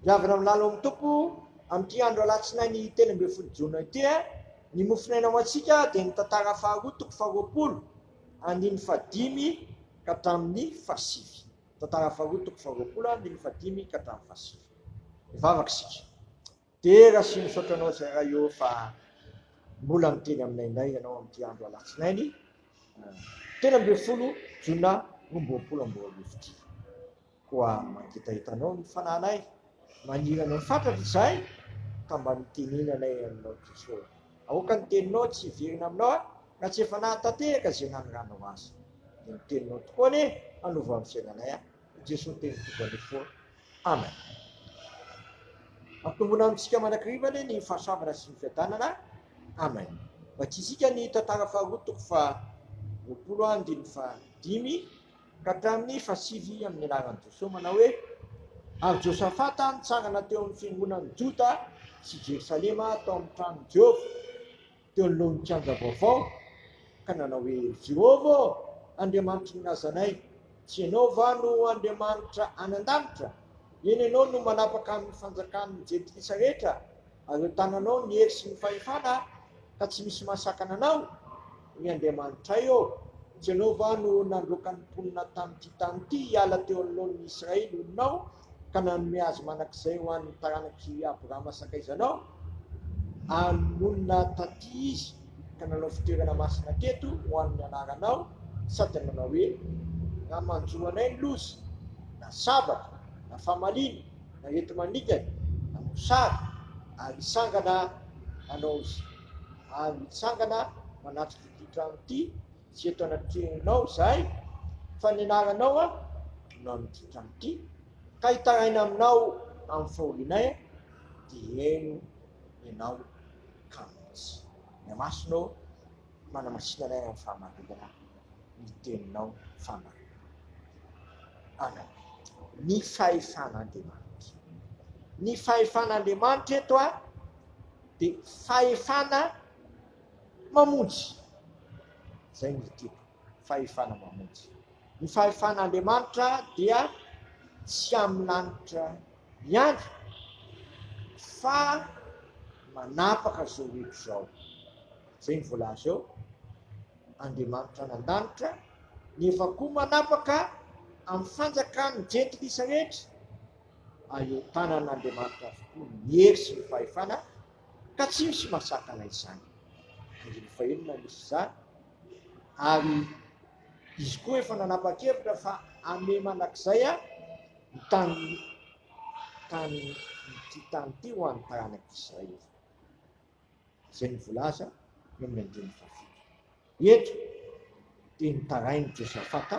Dia avy nalalo amin'ny Tompo amin'ity andro alatsinainy telo ambin'ny folo jona ity eh, ny mofonaina ho antsika dia ny tantara faharoa toko faharoapolo andininy fahadimy ka hatramin'ny fahasivy. Tantara faharoa toko faharoapolo andininy fahadimy ka hatramin'ny fahasivy. Mivavaka isika. Dera sy misaotra anao Zaray ô fa mbola miteny aminay indray ianao amin'ity andro alatsinainy telo ambin'ny folo jona roa roapolo amby roa arivo ity. Koa mangetaheta anao ny fanahinay, maniry anao fatratra izahay ka mba mitenenanay aminao Tompo Aoka ny teninao tsy hiverina aminao aho na tsy efa nahatanteraka izay nanoranao azy. Dia ny teninao tokoa anie hanova ny fiainanay aho. I Jesoa teny tompoko anie foana. Amen. Ampitombona amintsika manakiriva anie ny fahasambana sy ny fiadanana. Amen. Vakisika ny tantara faharoa toko fa roapolo andiny fa dimy ka hatramin'ny fasivy amin'ny anaran'i Josoa manao hoe ary Josafata nitsangana teo amin'ny fiangonan'i Joda sy Jerosalema tao amin'ny tranon'i Jehovah Teo anoloan'ny kianja vaovao, ka nanao hoe, Jehovah ô, Andriamanitry ny razanay, tsy ianao va no Andriamanitra any an-danitra? Eny, ianao no manapaka amin'ny fanjakan'ny jentilisa rehetra, ary eo an-tananao ny hery sy ny fahefana, ka tsy misy mahasakana anao. Ry Andriamanitray ô, tsy ianao va no nandroaka ny mponina tamin'ity tany ity hiala teo anoloan'ny Israely olonao ka nanome azy manak'izay ho an'ny taranak'i Abrahama sakaizanao, ary monina taty izy ka nanao fitoerana masina teto ho an'ny anaranao, sady nanao hoe, Raha manjo anay ny loza, na sabatra, na famaliana, na areti-maningana, na mosary, ary hitsangana hanao izay, ary hitsangana manatrika ity trano ity, Tsy eto anatrehanao izahay, fa ny anaranao no amin'ity trano ity, ka hitaraina aminao amin'ny fahorianay, dia heno ianao ka mihitsy. Ny amasonao no hanamasinana ahy amin'ny fahamarinana ny teninao fahamarinana. Amen. Ny fahefan'Andriamanitra. Ny fahefan'Andriamanitra eto dia fahefana. mamonjy. Izay no tiako, fahefana mamonjy. Ny fahefan'Andriamanitra dia tsy amin'ny lanitra ihany fa manapaka izao eto izao. Izay no voalaza eo, Andriamanitra any an-danitra nefa koa manapaka amin'ny fanjakan'ny jentilisa rehetra. Aeo tanan'Andriamanitra avokoa ny hery sy ny fahefana Ka tsy misy mahasakana izany. Andininy fahenina no misy izany. Ary izy koa efa nanapa-kevitra fa hanome mandrakizay ny tany tany ity tany ity ho an'ny taranak'i Israely. Izay no volaza eo amin'ny andininy fahafito. Eto dia nitarain'i Josafata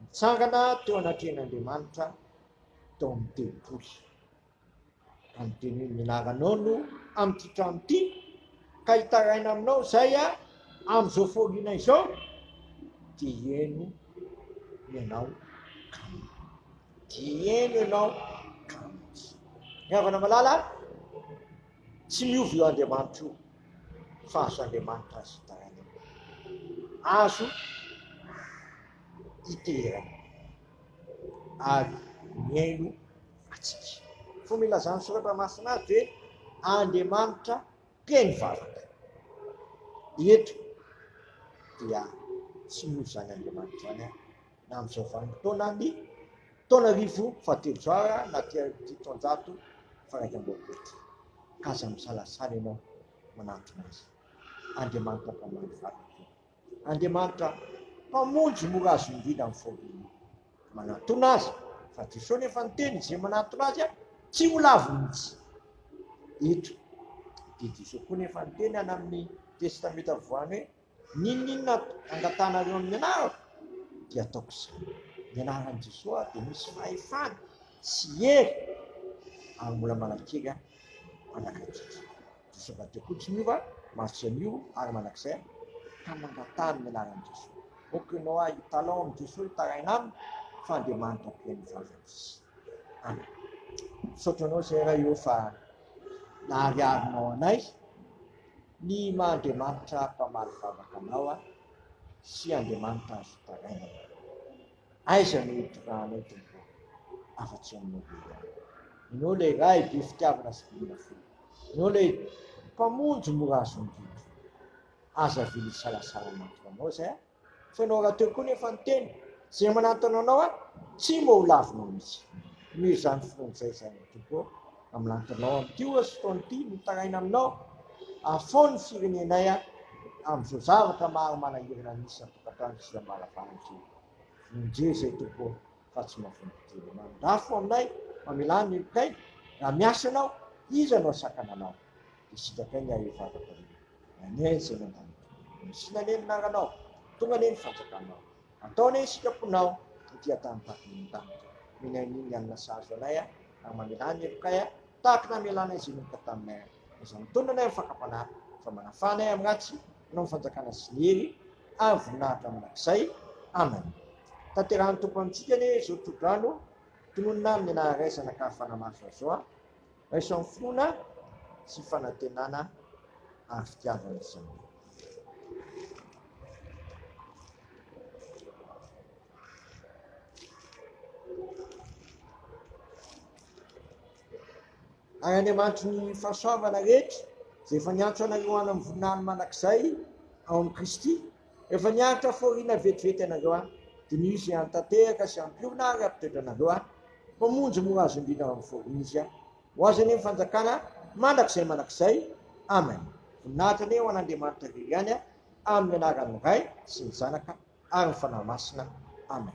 nitsangana teo anatrehan'Andriamanitra tao amin'ny tempoly. Andidio ny anaranao no amin'ity trano ity ka hitaraina aminao izay amin'izao fahoriana izao dia hieno ianao kamo. Dia hieno ianao kamo. Ny havana malala tsy miova io Andriamanitra io fa azo Andriamanitra azy hitaraina. Azo iterana ary mieno antsika. Fomba ilazan'ny soratra masina azy hoe Andriamanitra mpeno vavaka. Eto dia tsy misy izany Andriamanitra izany an, na amin'izao vanim-potoana ny taona arivo fahatelozo ara na ity taonjato faraika amboapo ity. Ka aza misalasala ianao manantona azy. Andriamanitra mpameno vavaka. Andriamanitra Mpamonjy mora azo indrindra ny fôbiny. Manatona azy, fa Jesôsy efa niteny, izay manatona azy tsy ho lavo mihitsy. Eto dia Jesôsy koa nefa niteny any amin'ny Testamenta Voany hoe, N'inon'inona angatanareo amin'ny anarako, dia ataoko izany. Ny anaran'i Jesôsy dia misy fahefana sy hery ary mbola manankery hanakaiky antsika. Diso avadika koa Jehovah masitry an'io ary mandrakizay ka mangatahany ny anaran'i Jesoa. Ô que no hay talon amin'i Jesoa hitaraina aminy fa Andriamanitra ampian'ny fahafatesana. Amen. Misaotra anao Zay Ray ô fa nahariharinao anay ny maha Andriamanitra mpamaly vavaka anao sy Andriamanitra azo tarainana. Aiza no hitondrahanao Tompo ô? Afa-tsy Aminao be ihany. Ianao ilay Ray be fitiavana sy be ora feno. Ianao ilay Mpamonjy mora azo indrindra. Aza avela hisalasala hanantona Anao izay aho, fa Ianao rahateo koa nefa ny tena. Izay manantona Anao aho, tsy mba ho lavinao mihitsy. Omeo izany filohan'izay izany Tompo ô. Amin'ny lahatanao amin'ity oa sy fotoana ity, mitaraina aminao afoa ny firenenay amin'izao zavatra maro manahirana misy an-tokantrano sy ambaravaratra io. Vonjeo izay Tompo ô, fa tsy mavongo tena. Mandà fo aminay, mamelà ny helokay, raha miasa ianao, iza no hasakana anao? Dia sitrapay ny ahy eo vavaka io. Amen, Zenandany Tompo. Honosina anie ny anaranao. Tonga anie ny fanjakanao. Antao anie isika mponao ety an-tany Babilôna tany. Minia ny ny alina sahazo anay a, ary mamelà ny helokay a, tahaka ny namelànay izay nanomboka taminay a. Aza mitonona anay amin'ny fakam-panahy, fa manafaha anay amin'ny ratsy, hanao ny fanjakana sy ny hery, ary voninahitra mandrakizay. Amen. Tanterahan'ny Tompo amintsika anie izao tsodrano, tononina amin'ny anarany iray zanak'ahy fanamaso azy zao a. Raisan'ny finoana sy fanantenana ary fitiavana izany. Ary Andriamanitry ny fahasoavana rehetra, izay efa niantso anareo any amin'ny voninahiny mandrakizay ao amin'i Kristy, Efa niaritra fôrina vetivety ianareo an! Diniho izay hantanteraka sy hampiorina ary hampitoetra anareo an! Fa monja mora azo indrindra ao amin'ny fôrina izy an! Ho azy anie ny fanjakana mandrakizay mandrakizay! Amen! Voninahitra anie ho an'Andriamanitra irery ihany an! Amin'ny anaran'ny Ray sy ny Zanaka ary ny Fanahy Masina! Amen!